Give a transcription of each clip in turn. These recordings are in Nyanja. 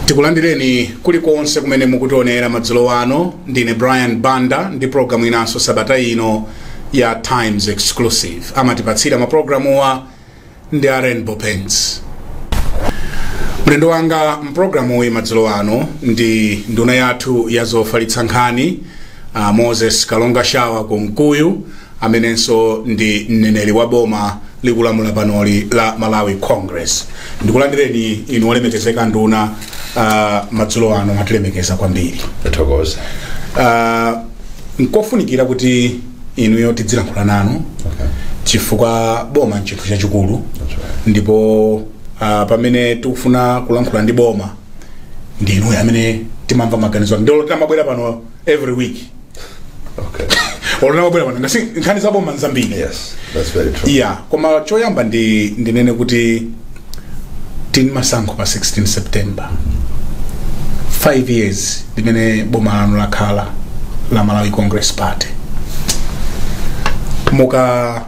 tikulandireni kulikonse kumene mukutionera madzulo ano ndine brian banda ndi programu inanso sabata ino ya times exclusive amatipatsira maprogramuwa ndi a rainbow paints mlendo wanga mprogramuyi madzulo ano ndi nduna yathu ya zofalitsa nkhani uh, moses kalonga shawa kunkuyu amenenso ndi mneneri wa boma likulamula panoli la malawi congress ndikulandireni inu olemekezeka nduna uh, madzulo ano mwatilemekeza kwambiri Tokoza. uh, nkofunikira kuti inuyo tidzilankhula nanu chifukwa boma nchinthu chachikulu ndipo uh, pamene tikufuna kulankhula ndi boma ndi inuyo amene timamva maganizo ake ndiye tizimabwera pano every week okay olo mutabwera pano ngati nkhani za boma nzambiri yes that's very true yeah koma choyamba ndi ndinene kuti tili ndi masankho pa 16 september 5 years limene boma lanu lakhala la malawi congress party muka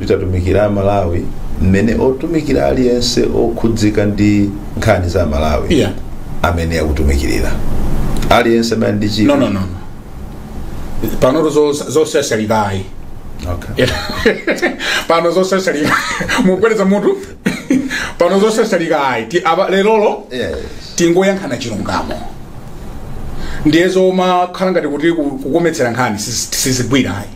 litatumikira amalawi mmene angatumikire aliyense okhudzika ndi nkhani za amalawi Yeah. amene akutumikirira aliyense amene ali ndi chidwi. no no no panotu zo- zosyasyalikayi Okay. pano zosyasyalika mukupepeza mutu pano zosyasyalikayi Ti- apa- lerolo Yes. tingoyankhulana chilungamo ndiye zomakhala ngati kuti ku- kukometsera nkhani sizi- sizigwirayi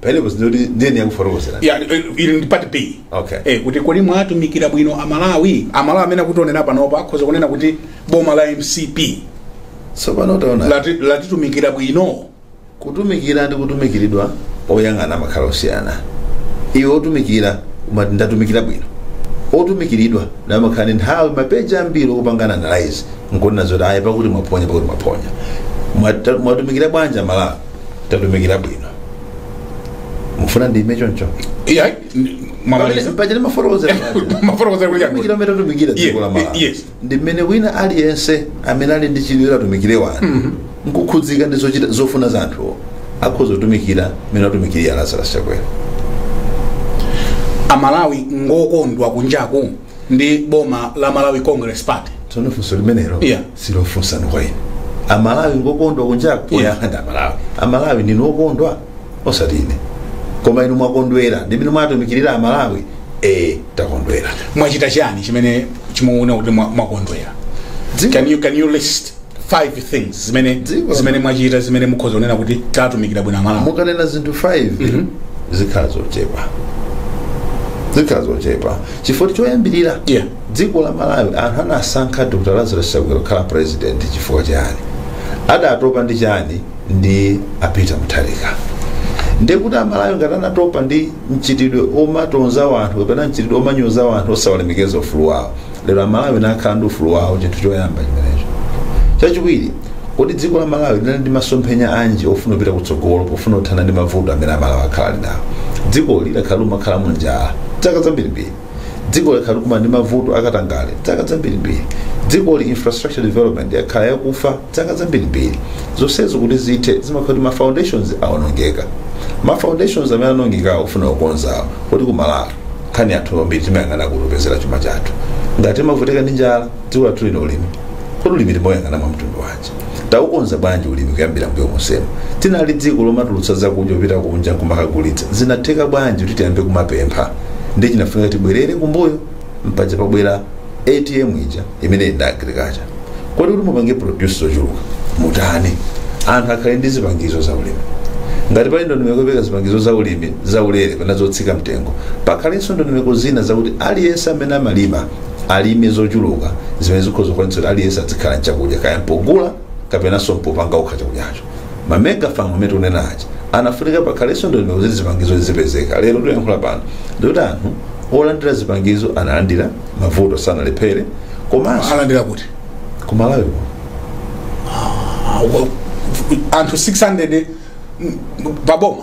pamenepo zinoti ndiyeni yakufotokozera Ya, eh, ili ndi part b Okay. eh, kuti kodi mwatumikira bwino amalawi amalawi amene akutionera panopa akhoza kunena kuti boma la mcp tsopano taona lati- latitumikira bwino kutumikira ndi kutumikiridwa oyang'ana amakhala osiyana iwe otumikira umati ndatumikira bwino otumikiridwa naye amakhala ndi nthawi mwapadera yambiri yokupanga analyze nkuona zoti ayi pakuti mwaphonya pakuti mwaphonya Mwata- mwatumikira bwanji malawi tatumikira bwino mufuna ndiime choncho ya mwamaliza pachene mafotokozera mafotokozera kuti tatumikira mmene tatumikira dziko la Ye- malawi yes. ndi mmene wina aliyense amene ali ndi chidwi chotumikira anthu nkukhudzika ndi zochita zofuna za anthuwo akhoza kutumikira mmene atumikirira lazarus chakwera amalawi ngokondwa kunjaku ndi boma la malawi congress party tsono funso limenelo Yeah. silofunsa kwa ine amalawi ngokondwa kunjaku Yeah. ndi amalawi amalawi ndinu okondwa osati ine koma inu mwakondwera ndi mmene mwatumikirira amalawi ee takondwera mwachita chani chimene mukuona kuti mwa- mwakondwera can you, can you list five things zimene Dziko. zimene mwachita zimene mukhoza kunena kuti tatumikira bwino amalawi mukanena zinthu 5 zikhala zochepa zikhala zochepa chifukwa choyambirira Yeah. dziko la malawi anthu anasankha dr lazarus chakwera kukhala president chifukwa chani adatopa ndi chani ndi a peter mutharika ndekuti amalawi ngati anatopa ndi mchitidwe omatonza wanthu kapena mchitidwe omanyoza wanthu osawalemekeza ufulu wawo lero amalawi akhala ndi ufulu wawo chinthu choyamba chimenecho chachiwiri kodi dziko la malawi linali ndi masomphenya anji ofuna kupita kutsogolo pofuna kuthana ndi mavuto amene amalawi akhala ali nawo dziko lakhala lomakhala mu njala zaka zambirimbiri dziko lakhala likukumana ndi mavuto akatangale zaka zambirimbiri dziko li infrastructure development yakhala yakufa zaka zambirimbiri zonsezo kuti zithe zimakhala kuti ma foundations awonongeka ma foundations amene anaonongekawo ofuna kukonzawo kodi ku malawi nkhani anthu ambiri timayang'ana kuti opezera chuma chathu ngati timavutika ndi njala dziko lathu lino ulimi kodi ulimi timauyang'ana mwa mtundu wanji taukonza bwanji ulimi kuyambira mbuyo monsemo tinali dziko lomatulutsa zakudya kupita kunja kumakagulitsa zinatheka bwanji kuti tiyambe kumapempha ndiye chinafunika tibwerere kumbuyo mpaja pabwera atm ija imene ili ndi agriculture kodi kuti mupange produce zochuluka mutani anthu akhale ndi zipangizo za ulimi ngati pali ndondomeko yopereka zipangizo za ulimi za ulere kapena zotsika mtengo pakhalenso ndondomeko zina zakuti aliyense amene amalima alime zochuluka zimene zikhoza kukwanitsa kuti aliyense adzikhala nchakudya kaya mpogula kapenanso mpopanga okha chakudyacho ma mega farm amene tikunena aja anafunika pakhalenso ndondomeko kuti zipangizo zipezeke lero tikuyankhula pano ndikuti anthu olandira zipangizo analandira mavuto sanalephere komanso analandira kuti kumalawi kuno Ah, wa- anthu 600 mm, paboma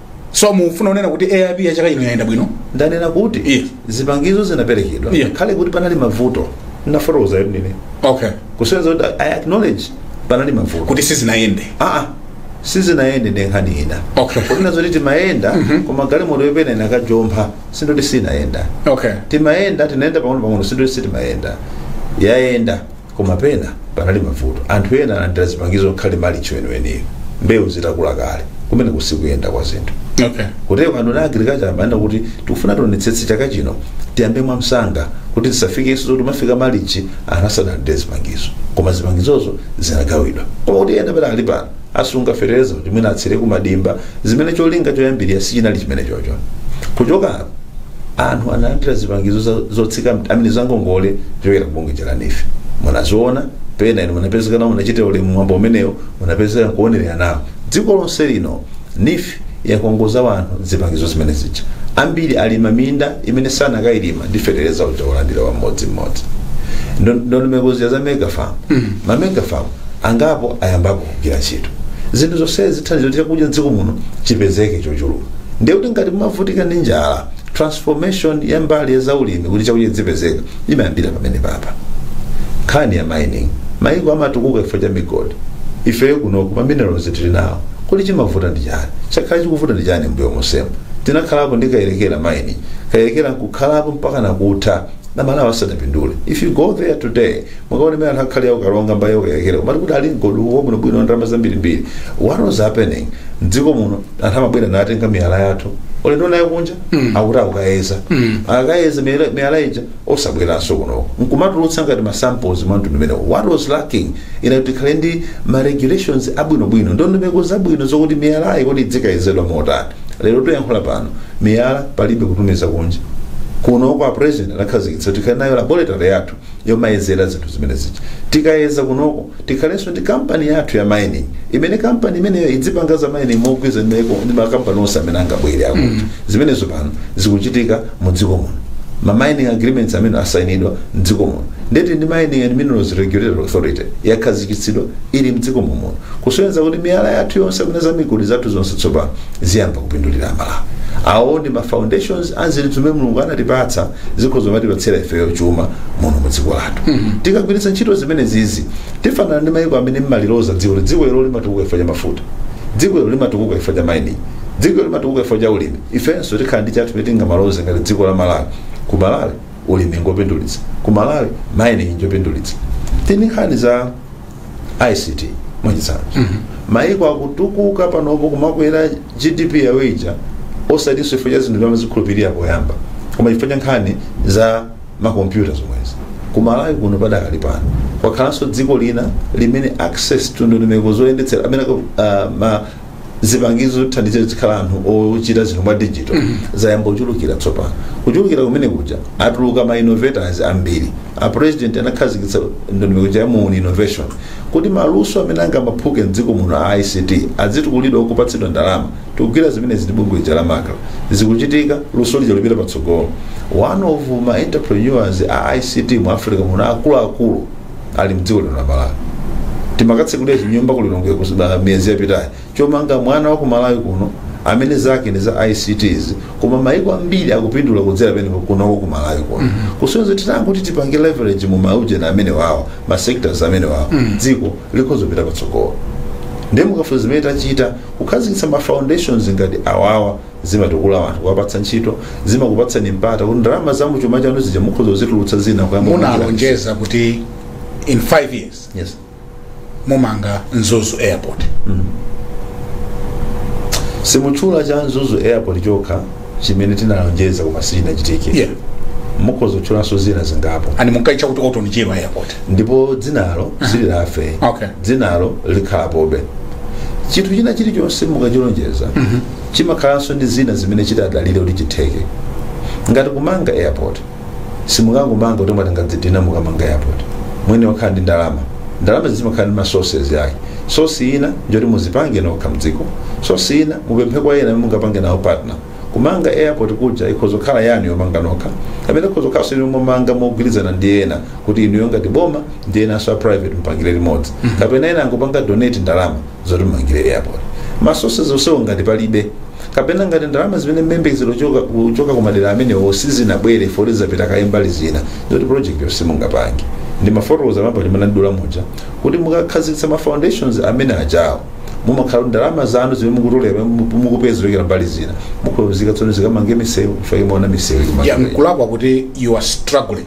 so mukufuna kunena kuti aip ya chaka ino yayenda bwino ndanena kuti Yes. zipangizo zinaperekedwa Yeah. ngakhale kuti panali mavuto nafotokoza yetu ndine okay kusonyeza kuti i acknowledge panali mavuto kuti sizinayende aa sizinayende ndi nkhani ina Okay. kunena zoti timayenda koma galimotoyo pena inakajompha sindoti sinayenda okay timayenda tikayenda pang'ono pang'ono sindoti sitimayenda yayenda koma pena panali mavuto anthu ena alandira zipangizo ngakhale malichi weniweniyo mbewu zitakula kale kumene si kuyenda kwa zinthu okay kutero a nduna a agriculture amanena kuti tikufuna tionetsetse chaka chino tiyambe mwamsanga kuti tisafikenso zoti tumafika malichi anthu asanalandire zipangizo koma zipangizozo zinagawidwa koma kuti ena pena ali pano asunga fetereza kuti mwina atsire ku madimba zimene cholinga choyambirira sichinali chimenecho cho kuchoka apo anthu analandira zipangizo za- zotsika mt- amene zangongole kuchokera kubungwe lija la neef munaziona pena inu munapezeka nawo munachitira ulemu mwambo umenewo munapezeka kuonerera nawo dziko lonse lino neef yakongoza wanthu zipangizo zimene zija ambiri alima minda imene sanakailima ndi fetereza uja wolandira wa mmodzi mmodzi ndondomeko zija za mega farm ma mega farm angapo ayambapo kugwira ntchito zinthu zonsezi zithandiza kuti chakudya dziko muno chipezeke chochuluka ndiye kuti ngati mumavutika ndi njala transformation ya mbali ya zaulimi kuti chakudya chizipezeka imayambira pamenepapa nkhani ya mining mayiko amatukuka chifukwa cha migodi ifeyo kunoku ma minerals tili nawo kodi chimavuta ndi chani chakhala chikuvuta ndi chani mbuyo monsemu tinakhalapo ndi kayerekera mining kayerekera nkukhalapo mpaka nakutha amalawi asadapindule if you go there today mukaone mene anthu akhalira ku karonga mbali ya kayerekera umati kodi ali mgodi uwo munabwera ndalama zambirimbiri what was happening mdziko muno anthu amabwera natenga miyala yathu ulendo nayo kunja akuti akukayeza akayeza miyala- miyala ija osabweranso kunoko nkumatulutsa ngati masamples mwa mtundu umenewo what was lacking inali kuti tikhale ndi ma regulations abwinobwino ndondomeko zabwino zokuti miyalayi kodi idzikayezedwa motani lero tikuyankhula pano miyala palibe kutumiza kunja kunoko a president anakhazikitsa tikhale nayo laboratory yathu yomayezera zinthu zimenezija tikayeza kunoko tikhalenso ndi kampani yathu ya mining imene kampani imeneyo idzipanga za mining mogwirizana ndi maiko- ndi makampani onse amene angabwere akuti zimenezo pano zikuchitika mu dziko muno ma mining agreements amene asayinidwa mdziko muno ndeti ndi mining and minerals regulatory authority yakhazikitsidwa ili mdziko muno kusonyeza kuti miyala yathu yonse amene za migodi zathu zonse tsopano ziyamba kupindulira amalawi awo ndi ma foundations a zinthu zimene mulungu anatipatsa zikhoza kumatipatsira ifeyo chuma muno mu dziko lathu tikagwiritsa ntchito zimenezizi tifanana ndi mayiko amene mmaliloza dziko kuti dziko ilo limatukuka chifukwa cha mafuta dziko ilo limatukuka chifukwa cha mining dziko ilo limatukuka chifukwa cha ulimi ifenso tikhala ndi chathu poti tingamaloze ngati dziko la malawi ku malawi ulimi ngopindulitsa ku malawi mining njopindulitsa tili nkhani za ict mwachitsanzo maiko akutukuka panopo kumakwera gdp yawo ija osatinso chifukwa cha zinthu timazikhulupirira poyamba koma chifukwa cha nkhani za makompyuta zomwezi kumalawi kuno padakali pano kwakhalanso dziko lina limene access to ndondomeko zoyendetsera amene uh, ma zipangizo zothandiza zikhala anthu ochita zinthu mwa digital zayamba kuchulukira tsopano kuchulukira kumenekuja atuluka ma innovators ambiri a president anakhazikitsa ndondomeko ya muuni innovation kuti maluso amene angamaphuke mdziko muno a ict adzitukulidwa nkupatsidwa ndalama tikugwira zimenezi ndi bungwe lija la macra zikuchitika luso lija lipita patsogolo one of ma entrepreneurs a ict mu africa muno akuluakulu ali mdziko lino la malawi timakatsekulira chinyumba ku lilongwe kusiba miyezi yapitayi chomanga mwana wa ku malawi kuno amene zake ndi za icts koma maiko ambiri akupindula kudzera mwa iyeyo kunoko ku malawi kuno kusonyeza titangoti kuti tipange leverage mu maujeni amenewawa ma sectors amenewawa dziko likhoza kupita patsogolo ndiye mukafunsa zimene tachita kukhazikitsa ma foundations ngati awawa zimatukula anthu kuwapatsa ntchito zimakupatsani mpata kuti ndalama za muchuma chanu zija mukhoza kuzitulutsa zina kuyamba kuchita- munalonjeza kuti in 5 years yes. mumanga mzuzu airport simutchula cha mzuzu airport chokha chimene tinalonjeza koma sichinachitike yeah mukhoza kutchulanso zina zingapo and munkaitcha kuti Orton Chirwa airport ndipo dzinalo sililafe Okay. dzinalo likhalapobe chinthu china chilichonse mukachilonjeza chimakhalanso ndi zina zimene chitadalire kuti chitheke ngati kumanga airport simungangomanga kuti mwati mwangodzidina mukamanga airport mwene wakhala ndi ndalama ndalama zimakhala ndi masources yake source ina njoti muzipange nokha mdziko source ina mupemphe kwa ena mungapange nawo partner kumanga airport kuja ikhoza kukhala yanu yomanga nokha kapena ikhoza kukhalanso inu yomanga mogwirizana ndi ena kuti inuyo ngati boma ndi enanso a private mupangire limodzi kapena ena angopanga donate ndalama zoti mumangire airport ma sources onsewo ngati palibe kapena ngati ndalama zimene mumayembekezera kuchoka ku madera amenewo sizinabwere poti zapita kaye mbali zina ndiye kuti project yo simungapange ndimafotokoza mmene munandidula muja kuti mukakhazikitsa ma foundations amene ajawo mumakhala kuti ndalama zanu zimene mukutolera mukupeza kuchokera mbali zina mukhoza kuyika tsono zikamange misewu ife timaona misewu ikumangidwa. mkulakwa kuti you are struggling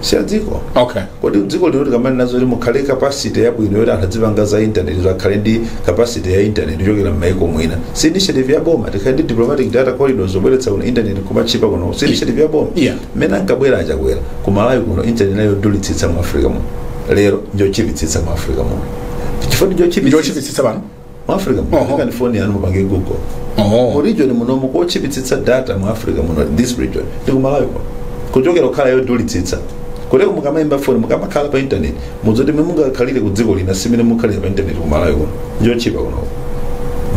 si ya dziko okay kodi dziko lino tikamanena zoti mukhale capacity yabwino yoti anthu adzipanga za intaneti kuti akhale ndi capacity ya intaneti yochokera m'maiko mwina si initiative ya boma tikhale ndi diplomatic data corridors zobweretsa kuno intaneti kumatchipa kuno si initiative ya boma Yeah. mmene ankabwera achakwera ku malawi kuno intaneti inali yodulitsitsa mu africa muno lero njotchipitsitsa mu africa muno chifukwa ndi njotchipitsitsa njotchipitsitsa pano mu africa muno Oho. tengani foni yanu mupange google mu oh. region muno muno kotchipitsitsa data mu africa muno this region ndi kumalawi kuno kuchokera kukhala yodulitsitsa koteroko mukamayimba foni mukamakhala pa internet mudziwe zoti mmene mungakhalire ku dziko lina si mmene mukhalira pa internet kumalawi kuno njotchipa kuno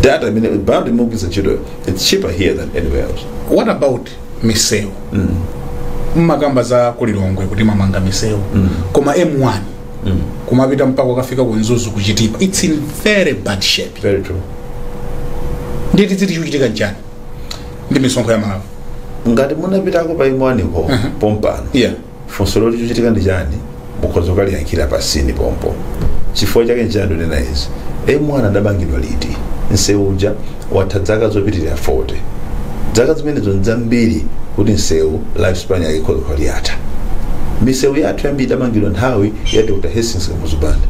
data imene bundle mukugwiritsa ntchitoyo its cheaper here than anywhere else what about misewu mumakamba za kulilongwe kuti mwamanga misewu koma m1 kumapita mpaka ukafika ku mzuzu kuchitipa its in very bad shape very true nditi tinditi chikuchitika nchani ndi misonkho ya aMalawi ngati munapitako pa m1 ko pompano yeah funso loti chikuchitika ndi chani mukhoza kukaliyankhira pa scene pompo chifukwa chake nchani ndikunena izi m1 adamangidwa liti msewu uja watha dzaka zopitilira 40 dzaka zimenezo ndzambiri kuti msewu life span yake ikhoza kukhala yatha misewu yathu yambiri idamangidwa nthawi ya dr hastings kamuzu banda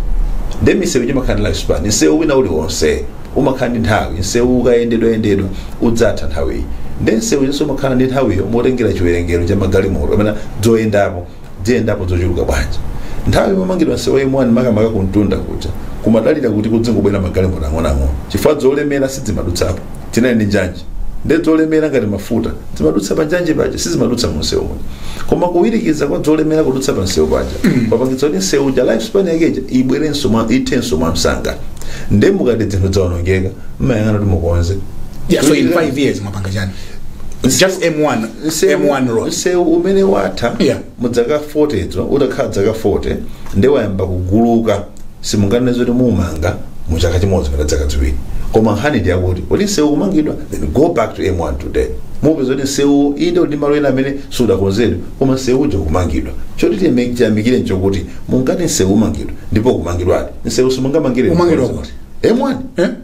nde misewu imakhala ndi life span msewu wina uliwonse umakhala ndi nthawi msewu ukayendedwa yendedwa udzatha nthawiyi nde msewu uliwonse umakhala ndi nthawiyo motengera chiwerengero cha magalimoto amene adzayendapo ziyendapo zochuluka bwanji nthawi umamangidwa msewu wa m1 makamaka kumtunda kuja kumadalira kuti kudzingobwera magalimoto ang'onoang'ono chifukwa zolemera sidzimadutsapo tinali ndi njanji nde dzolemera ngati mafuta zimadutsa pa njanji paja sizimadutsa mu msewu muja koma kuwirikiza kwa dzolemera kudutsa pa msewu paja papangitsa kuti msewu uja life span yake ija ibwerenso mwa ithenso mwa msanga nde mukati dzinthu dzaonongeka mmayang'ana kuti mukonze Yeah, so in five years mwapanga chani It's just M1, M1 road. msewu umene watha Yeah. mu dzaka 40 dzo utakhala dzaka 40 ndi wayamba kuguluka simunganene zoti mumanga mu chaka chimodzi kapena dzaka ziwiri koma nkhani ndi yakuti kodi msewu kumangidwa then go back to m1 today mupeza kuti msewu inde ndi malo ena amene sudakonzedwe koma msewu uja kumangidwa choti tiyeme- tiyamikire nchokuti mungati msewu umangidwa ndipo kumangidwadi msewu simungamangire Umangidwa kuti? m1 Eh?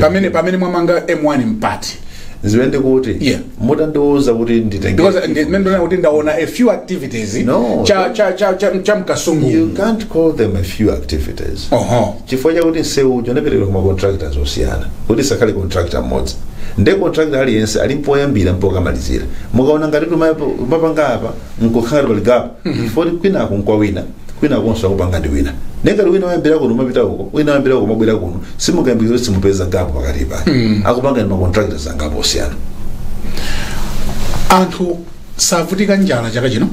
pamene pamene mwamanga m1 mpati ziwe ndikuti Yeah. mutandiuza kuti nditenge because ndi- mmene ndona kuti ndaona a few activities No. cha cha cha cha, cha you mkasungu can't call them a few activities oho chifukwa chakuti nsewu uja unaperekedwa kuma contractors osiyana kuti asakhale contractor mmodzi nde contractor aliyense ali mpoyambira mpokamalizira mukaona ngati tumapanga apa nkukhala pali gap foti kwinako nkwawina kwinakonso akupanga ndi wina nengati wina wayambira kuno umapita uko wina wayambira uko umabwera kuno simukayambikira kuti simupeza gap pakati pake akupanga ndi macontractors angapo osiyana anthu savutika njala chaka chino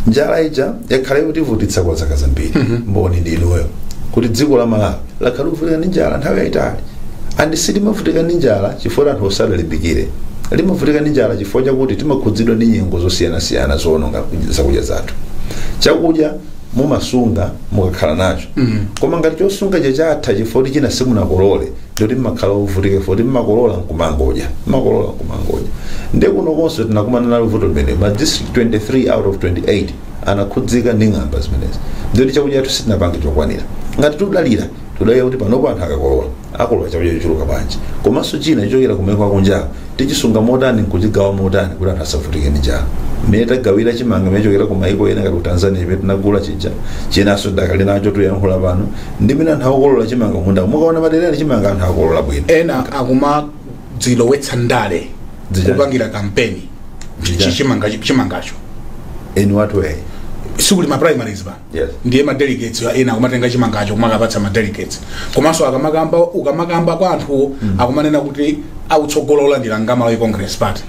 njala ija yakhala ikutivutitsa kwa zaka zambiri mboni ndi inuyo kuti dziko la malawi lakhala likuvutika ndi njala nthawi yayitali and silimavutika ndi njala chifukwa anthuwo sadalimbikire limavutika ndi njala chifukwa chakuti timakhudzidwa ndi nyengo zosiyanasiyana zoononga zakudya zathu chakudya mumasunga mukakhala nacho koma ngati chosunga chija chatha chifukwa kuti china simunakolole ndikuti mmakhala ovutika chifukwa kuti mmakolola nkumangodya mmakolola nkumangodya nde kunokonso tinakumana nalo vuto limene ma district 23 out of 28 anakhudzika ndi ng'amba zimenezi ndikuti chakudya chathu sitinapange chokwanira ngati tudalira tudalira kuti panopo anthu akakolola akolola chakudya chochuluka bwanji komanso china chochokera ku maiko akunjawo tichisunga motani nkuchigawa motani kuti anthu asavutike ndi njala mmene tagawira chimanga mmene chokera ku maiko ena ngati ku tanzania chimene tinagula chija chinanso tidakali nacho tuyankhula pano ndi mmene anthu akukolola chimanga mmunda mukaona madera ali chimanga anthu akukolola bwino ena akumadzilowetsa ndale Dzija. kupangira kampeni Dzija. Chi- chimanga- chimangacho in what way sikuli ma primaries ba Yes. ndiye ma delegates ena akumatenga chimangacho kumakapatsa ma delegates komanso akamakamba ukamakamba kwa anthuwo akumanena kuti akutsogola kulandira nga malawi congress party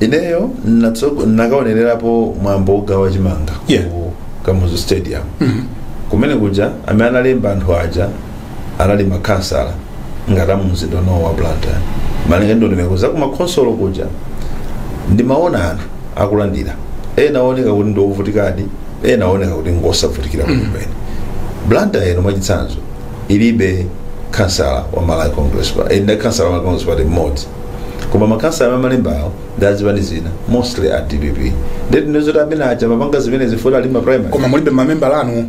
ineyo natso- nakaonererapo mwambo wogawa chimanga Yeah. ku kamuzu stadium kumene kuja amene analemba anthu aja anali makhansala ngati amumzinda uno wa blantyre malinga ndi ndondomeko za kumakhonsolo kuja ndimaona anthu akulandira ena aoneka kuti ndi ovutikadi ena aoneka kuti ngosavutikira kumene blantyre ino mwachitsanzo ilibe khansala wa malawi congress party ina khansala wa malawi congress party mmodzi koma makhansala amalemba awo ndi azipani zina mostly a dpp ndiye kuti ndizoti amene aja mapanga zimene zifuna ali ma primary koma mulibe mamembala anu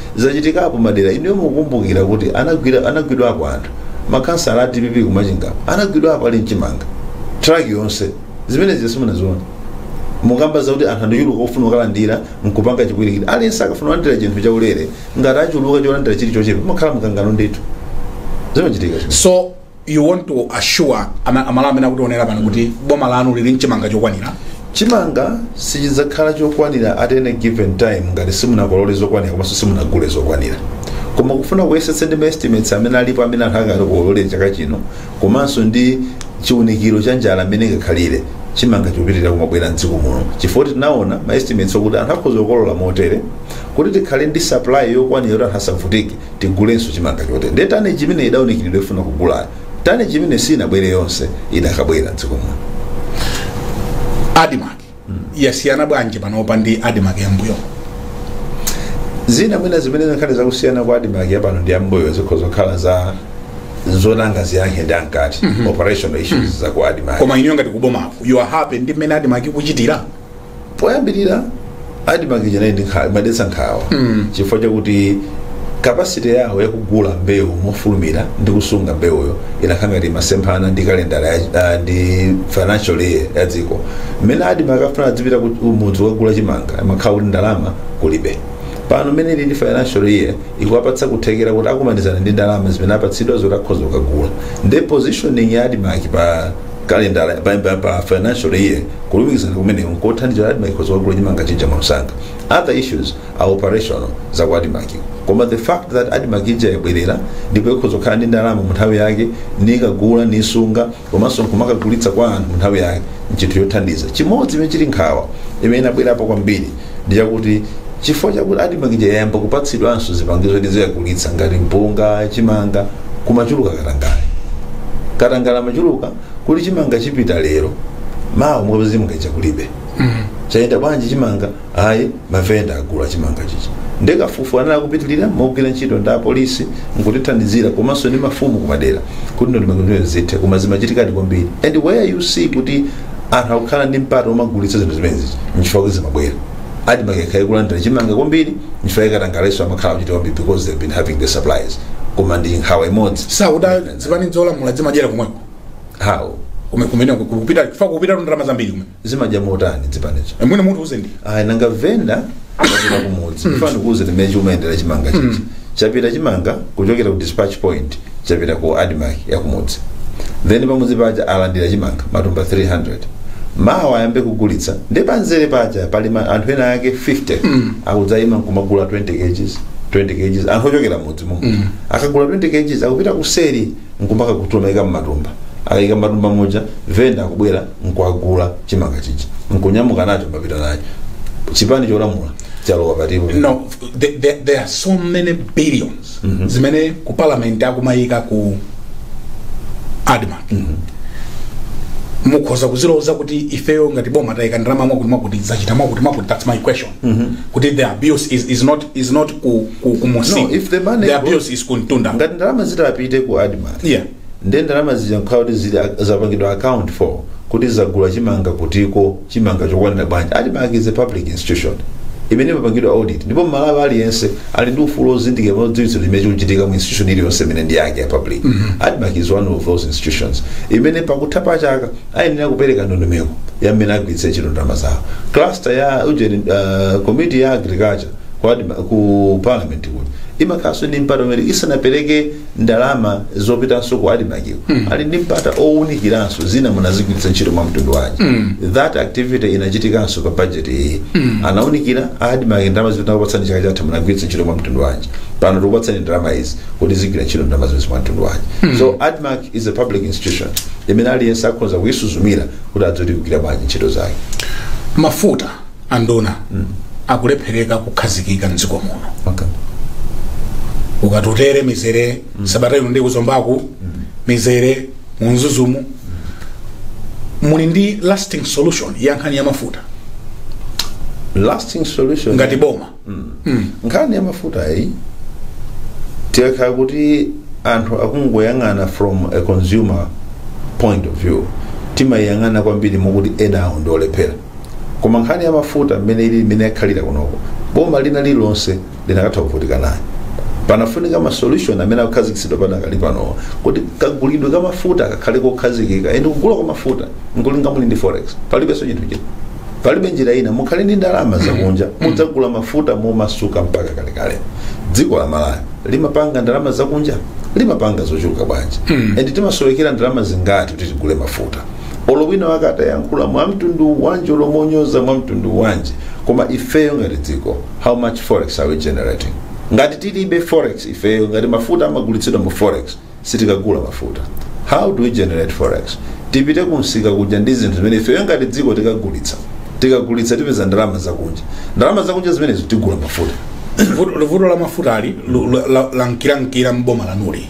zachitikapo madera inuyo mukukumbukira kuti anagwira anagwidwapo anthu makhansala a dpp kumachingapo anagwidwapo ali mchimanga truck yonse zimenezi simunaziona mukamba zakuti anthu andichuluka ofuna kukalandira nkupanga chipwirikiti aliyense akafuna kulandira chinthu chaulere ngati achuluka cholandira chili chochepa pamakhala mkangano ndithu zimachitika so you want to assure ama- amalawi amene akutionera pano kuti boma lanu lili nchimanga chokwanira chimanga sichidzakhala chokwanira at any given time ngati simunakolole zokwanira komanso simunagule zokwanira koma kufuna kuyesetsa ndi maestimates amene alipo amene anthu akati kuolole chaka chino komanso ndi chiunikiro cha njala mmene ingakhalire chimanga chikupitirira kumabwera mdziko muno chifukwa tinaona maestimates okuti anthu akhoza kukolola motere kuti tikhale ndi supply yokwanira yoti anthu asavutike tigulenso chimanga chotere ndiye tane chimene idaunikiridwa ifuna kugulayo tane chimene sinabwere yonse idakabwera mdziko muno admarc yasiyana bwanji panopa ndi admarc yambuyo zina mwina zimene zikhale zakusiyana kwa admarc yapano ndi yambuyo zikhoza kukhala za zonanga ziyankhe ndi ankati operational issues za ku admarc koma inuyo ngati kubomako you are happy ndi mmene admarc ikuchitira poyambirira admarc ija inali ndi nkhawa imadetsa nkhawa chifukwa chakuti capacity yawo yakugula mbewu mofulumira ndi kusunga mbewuyo imakhala ngati imasemphana ndi kalendala ya- ah, ndi financial year ya dziko mmene admarc akafuna adzipita ku ku mudzi kukagula chimanga amakhala kuti ndalama kulibe pano mmene ili ndi financial year ikuwapatsa kuthekera kuti akumanizana ndi ndalama zimene apatsidwa zoti akhoza kukagula ndi positioning ya admarc pa Kalendala pambali pa financial year, kulumikizana kumeneko n'kothandiza kuti Admarc ikhoza kukagula cimanga cija mwamsanga. Other issues are operational za ku Admarc. Koma the fact that Admarc ija yabwerera ndipo ikhoza kukhala ndi ndalama mu nthawi yake nikagula nisunga komanso nkumakagulitsa kwa anthu mu nthawi yake n'cinthu cothandiza. Cimodzi cimene cili nkhawa imene inabwerapo kwambiri ndi chakuti chifukwa chakuti admarc ija yayamba kupatsidwanso zipangizo kuti izikagulitsa ngati mpunga chimanga kumachuluka katangale katangale amachuluka kuti chimanga chipita lero mawa mukapeza chimanga chija kulibe chayenda bwanji chimanga ayi mavenda agula chimanga chija ndi kafukufuku anali akupitirira mogwira ntchito ndi apolisi nkutithandizira komanso ndi mafumu kumadera kuti ndondomeko zithe koma zimachitikadi kwambiri and where you see kuti anthu akukhala ndi mpata omagulitsa zinthu zimenezi nchifukwa kuti zimabwera admarc ikakhale kulandira chimanga kwambiri nchifukwa ikatangalenso amakhala kuchita kwambiri because they've been having the supplies koma ndi nkhawa imodzi sakuda zipani zolamula zimadyera kumweko how Kume- kumene kupita kufa kupita ndalama zambiri kumene zimadya motani zipanizo mwina mundiuze ndi ayi nanga venda kapita kumudzi imva ndikuuze mmene chimayendera chimanga chichi chapita chimanga kuchokera ku dispatch point chapita ku admarc yakumudzi then pamudzi paja alandira chimanga matumba 300 mawa ayambe kugulitsa nde panzere paja pali ma- anthu ena ake 50 akudzaima nkumagula 20 kgs 20 kgs anthu ochokera mudzi mumu akagula 20 kgs akupita kuseri nkumakakhutula nkumaika mmatumba akaika mmatumba muja venda akubwera nkuagula chimanga chija nkunyamuka nacho wapita nacho chipani cholamula chalowa patipo no there, there, there are so many billions zimene ku parliament akumayika ku admarc mukhoza kuziloza kuti ifeyo ngati boma tayika ndalama mwakuti mwakuti zachita mwakuti mwakuti that's my question kuti the abuse is, is not is not ku, ku, ku munsi. No, if the money the goes- abuse is ku mtunda ngati ndalama zitapite ku admarc yeah nde ndalama zija nkukhala kuti zili ak- zapangidwa account for kuti zagula chimanga kutiko chimanga chokwanira bwanji admarc is a public institution imene imapangidwa audit ndipo mmalawi aliyense ali ndi ufulu ozindikira kudziwitsidwa chimene chikuchitika mu institution iliyonse imene ndi yake ya public admarc is one of those institutions imene pakutha pa chaka ayenera kupereka ndondomeko ya mmene agwiritsira ntchito ndalama zawo cluster ya ujeni uh, committee ya agriculture ku, Adma- ku parliament kuja imakhalanso ndi mpata umene isanapereke ndalama zopitanso ku admarc-wo ali ndi mpata owunikiranso zija munazigwiritsa ntchito mwa mtundu wanji that activity inachitikanso pa budget iyi anaunikira admarc ndalama zimene tinakupatsani chaka chatha munagwiritsa ntchito mwa mtundu wanji pano tikupatsani ndalama izi kuti zigwire ntchito ndalama zonse mwa mtundu wanji so admarc is a public institution imene aliyense akhoza kuyisuzumira kuti adziwe kuti ikugwira bwanji ntchito zake mafuta anduna, akulephereka kukhazikika mdziko muno Okay. kukatutere mizere sabata ino ndi kuzombaku mizere mu mzuzumu muli ndi lasting solution ya nkhani ya mafuta Lasting solution. ngati boma nkhani ya mafuta iyi tikakhala kuti anthu akungoyang'ana from a consumer point of view timayang'ana kwambiri mokuti ena awo ndiolephera koma nkhani ya mafuta mmene ili mmene yakhalira kunoko boma lina lililonse linakatha kuvutika nayo panafunika ma solution amene akukhazikitsidwa padakali panowa kuti kagulidwe ka mafuta kakhale kokhazikika ende kugula kwa mafuta nkulinga muli ndi forex palibenso chinthu china palibe njira ina mukhale ndi ndalama zakunja mudzagula mafuta momasuka mpaka kalekale dziko la malawi limapanga ndalama zakunja limapanga zochuluka bwanji and timasowekera ndalama zingati kuti tigule mafuta olo wina wake atayankhula mwa mtundu wanji olo monyoza mwa mtundu wanji koma ifeyo ngati dziko how much forex are we generating ngati tilibe forex ifeyo ngati mafuta amagulitsidwa mu forex sitikagula mafuta how do we generate forex tipite kumsika kuja ndi zinthu zimene ifeyo ngati dziko tikagulitsa tikagulitsa tipeza ndalama zakunja ndalama zakunja zimenezo tigula mafuta Vuto- vuto la mafuta lu- la- la- lankirankira m'boma lanuli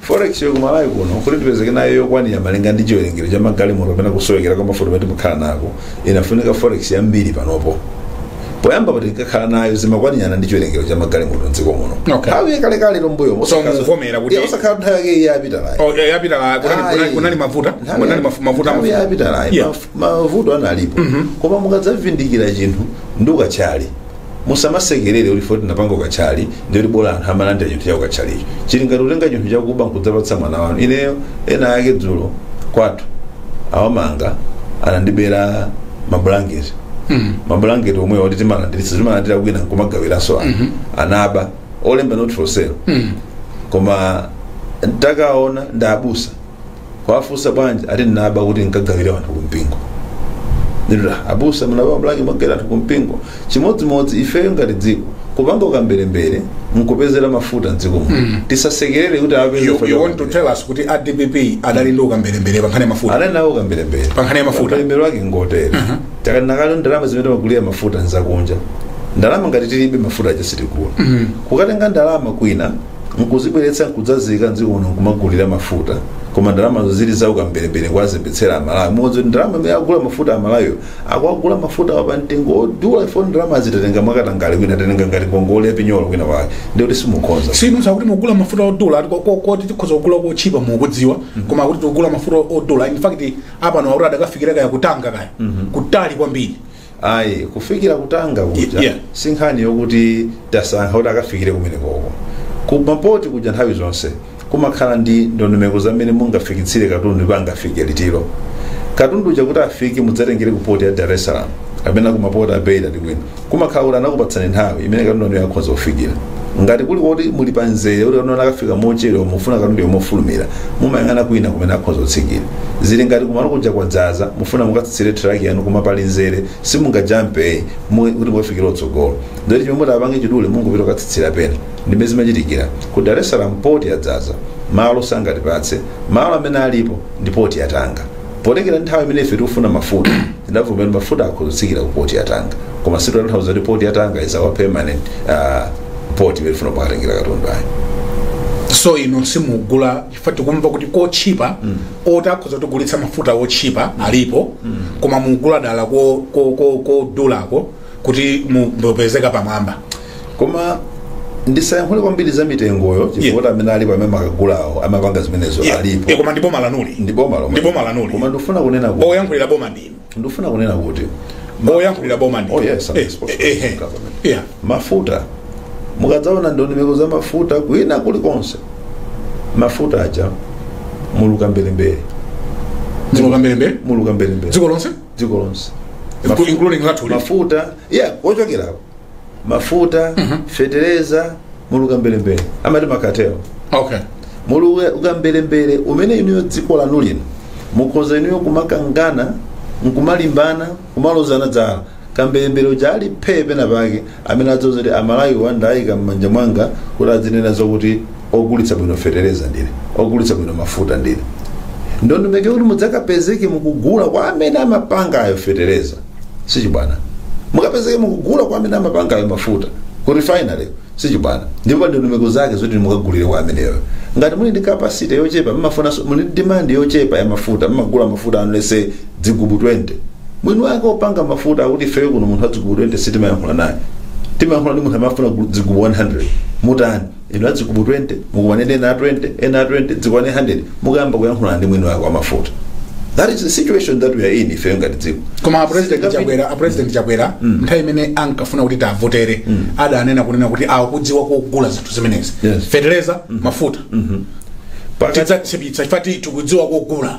forex yo kumalawi kuno kuti tipezeke nayo yokwanira malinga ndi chiwerengero cha magalimoto kapena kusowekera kwa mafuta kumene timukhala nako inafunika forex yambiri panopo poyambapo tinkakhala nayo zimakwanirana ndi chiwerengero cha magalimoto mdziko muno Okay. nthawi yakalekale mbuyo So mukuvomera kuti- osakhala nthawi yake iyi yapitayo Oh, eh, yapita kunali- Ayi. kunali- kunali mavuto Nthawi kunali ya- mafu- mavuto nthawi yapitayo Yeah. maf- mavuto analipo koma mukadzazindikira chinthu ndi ukathyali musamasekerere kuti foti anapanga ukathyali ndikuti bola anthu amalandira chinthu cha ukathyalicho chili ngati kutenga chinthu chakuba nkudzapatsa mwana wanu ineyo ena ake dzulo kwathu awamanga anandibera mabulangete mabulangete omwe oti timalandiritsa timalandira kwina nkumagawiranso anthu anaba olemba not for sale koma ntakaona ndi abusa kuwafunsa bwanji ati ndinaba kuti nkagawire anthu kumpingo ndiye abusa munaba mabulangete mwagawira anthu kumpingo chimodzimodzi ifeyo ngati dziko kupanga ukamberembere nkupezera mafuta mdziko muno tisasekerere kuti apeze you, you want to tell us kuti a dpp adali ndi ukamberembere pa nkhani ya mafuta anali nawo ukamberembere Pa nkhani ya mafuta. ukamberembere wake ngotere takamba kale ndalama zimene timagulira mafuta nzakunja ndalama ngati tilibe mafuta aja sitigula kukatenga ndalama kwina nkuzibweretsa nkudzaziika mdziko muno nkumagulira mafuta koma ndalamazo zili za ukamberembere kuwazembetsera amalawi mukudziwa kuti ndalama imene akugula mafuta amalawiyo akugula mafutawa pa mtengo odula if ndalamazi tatenga mwakatangale kwina tatenga ngati ngongole yapinyolo kwina wake ndikuti simukhonza sinu sakuti mugula mafuta odula ati ko- ko- koti tikhoza kugula kotchipa mukudziwa koma kuti tikugula mafuta odula in fact apano akuti adakafikira kaya kutanga kaya kutali kwambiri ayi kufikira kutanga kuja Yeah. si nkhani yokuti tasankha kuti akafikire kumene koko kumapoti kuja nthawi zonse kumakhala ndi ndondomeko za mmene mungafikitsire katundu ndipo angafike liti katundu uja kuti afike mudzatengere ku poti ya dar es salaam kapena ku mapoti a beira ndi kwina kumakhala kuti anakupatsani nthawi imene katundu wanuyo akhonza kufikira ngati kuli kuti muli pa mzere kuti katundu akafika mochedwa mufuna katunduyo mofulumira mumayang'ana kwina kumene akhoza kutsikira zili ngati kumalo kuja kwadzaza mufuna mukatsitsire traki yanu koma pali mzere simungajampe mu- kuti mukafikire kutsogolo ndoti chomwe mutapange chidule mungopita kukatsitsira pena ndi mmene zimachitikira ku dar es salaam poti yadzaza malo sangatipatse malo amene alipo ndi poti ya tanga potengera nthawi imene ife tikufuna mafuta tidavomera mafuta akhoza kutsikira ku poti ya Tanga koma sititanthauza kuti poti ya Tanga is our permanent uh, poti imene tifuna pakatengera katundu ayi so inu simugula chifukwa tikumva kuti kotchipa oti akhoza kutigulitsa mafuta otchipa alipo koma mugula dala ko- ko- ko- kodulako kuti mu- mupezekapo mwamba koma ndisayankhule kwambiri za mitengoyo chifukwa kuti amene alipo amene makagulawo amapanga zimenezo Yeah. Eh, alipo koma ndi boma lanuli ndi boma lomwe. Ndi boma lanuli. koma ndikufuna kunena kuti oyankhulira boma ndinu ndifuna kunena kuti oyankhulira boma ndinu Oh, yes, I'm Eh, responsible eh, eh, for government. yeah. mafuta mukadzaona ndondomeko za mafuta kwina kulikonse mafuta aja muli kambelembele muli kambelembele muli kambelembele dziko lonse dziko lonse Inclu- including lathu lino. mafuta yeah kuchokerapo mafuta fetereza muli kambelembele amati makatelo okay muli ka- kambelembele amene inuyo dziko lanu lino mukhoza inuyo kumakangana nkumalimbana kumalozana dzala kambelembele uja ali phee pena pake amene adzadziuza kuti amalawiwa ndaika m'manja mwanga kuti adzinena zakuti ogulitsa bwino fetereza ndine ogulitsa bwino mafuta ndine ndondomeko yoti mudzakapezeke mukugula kwa amene amapanga ayo fetereza sichibwana mukapezeke mukugula kwa amene amapanga ayo mafuta ku refinery sichibwana ndipo ndondomeko zake zoti mukagulire kwa ameneyo ngati muli ndi capacity yochepa mumafuna muli ndi demand yochepa ya mafuta mmagula mafuta anu let's say dzigubu 20 mwini wake opanga mafuta akuti ifeyo kuno munthu adzigubu 20 sitimayankhula naye timayankhula ndi munthu amafuna gu- dzigubu 100 mutani inu adzigubu 20 mukumane ena a 20 ena a 20 zikwane 100 mukayambe kuyankhulana ndi mwini wake wa mafuta that is the situation that we are in ifeyo ngati dziko koma a president Sitingapi- Chakwera a president Chakwera nthawi imene ankafuna kuti tiwavotere adanena kunena kuti akudziwa kugula zinthu zimenezi Yes. fetereza mafuta Pakati- tidzatchipitsa chifukwa tikudziwa kugula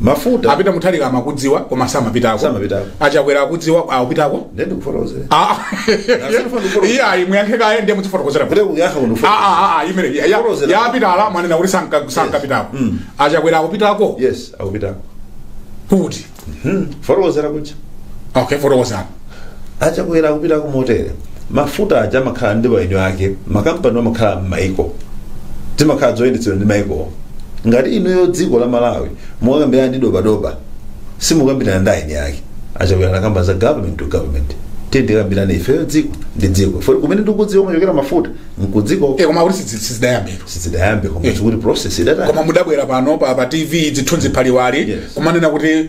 mafuta a Peter Mutharika amakudziwa koma samapitako Samapitako. a Chakwera akudziwa akupitako ndiye ndikufotokozera Ah. Asifuna ndikolo. iye ayi muyankhe kaye ndiye muzifotokozera kuti kuyankha kuno Ah, ah, ah, imeneyi a- a- Kolozera. a Peter-wa mwanena kuti sanka- sankapitako Mm. a Chakwera akupitako yes akupitako kukatani fotokozera kuja okay fotokozani a Chakwera akupitako motere mafuta aja amakhala ndi eni ake makampani amakhala m'maiko zimakhala zoyendetsedwa ndi maikowo ngati inuyo dziko la Malawi mukakambirana ndi dobadoba simukambirana ndi eni ake a Chakwera anakamba za government to government tiye tikambirane ifeyo dziko ndi dziko Fo- kumene ndikudziwa kumachokera mafuta nkudziko Eh, koma kuti sidzi- sizidayambira sizidayambe koma Eh. chikuti process idatani koma mudabwera pano pa, pa TV zithunzi phaliwali Yes. kumanena kuti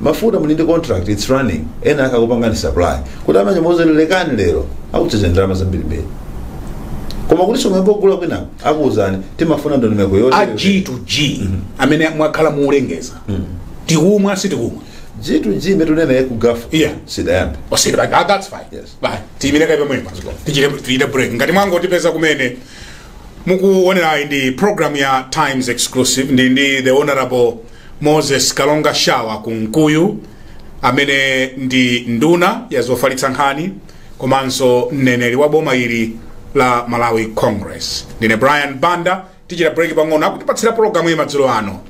mafuta muli ndi contract its running ena akakupangani supply kuti amanyamu zelelekani lero akuchedza ndalama zambirimbiri koma kuti somwembo ogula kwina akuwuzani timafuna ndondomeko yoti g to g amene mwakhala muulengeza tikumwa sitikumwa g to g metunena ya ku Gulf Yeah. sidayambe Alright ah, that's fine Yes. bye tiyimire kaye pomwepo tichite tichite break ngati mwangotipeza kumene mukuonerayi ndi program ya times exclusive ndili ndi the honorable Moses Kalonga Shawa Kunkuyu amene ndi nduna ya zofalitsa nkhani komanso mneneri wa boma ili la Malawi Congress. Ndine Brian Banda tichita break pang'ono akutipatsira pologalamu iyi madzulo ano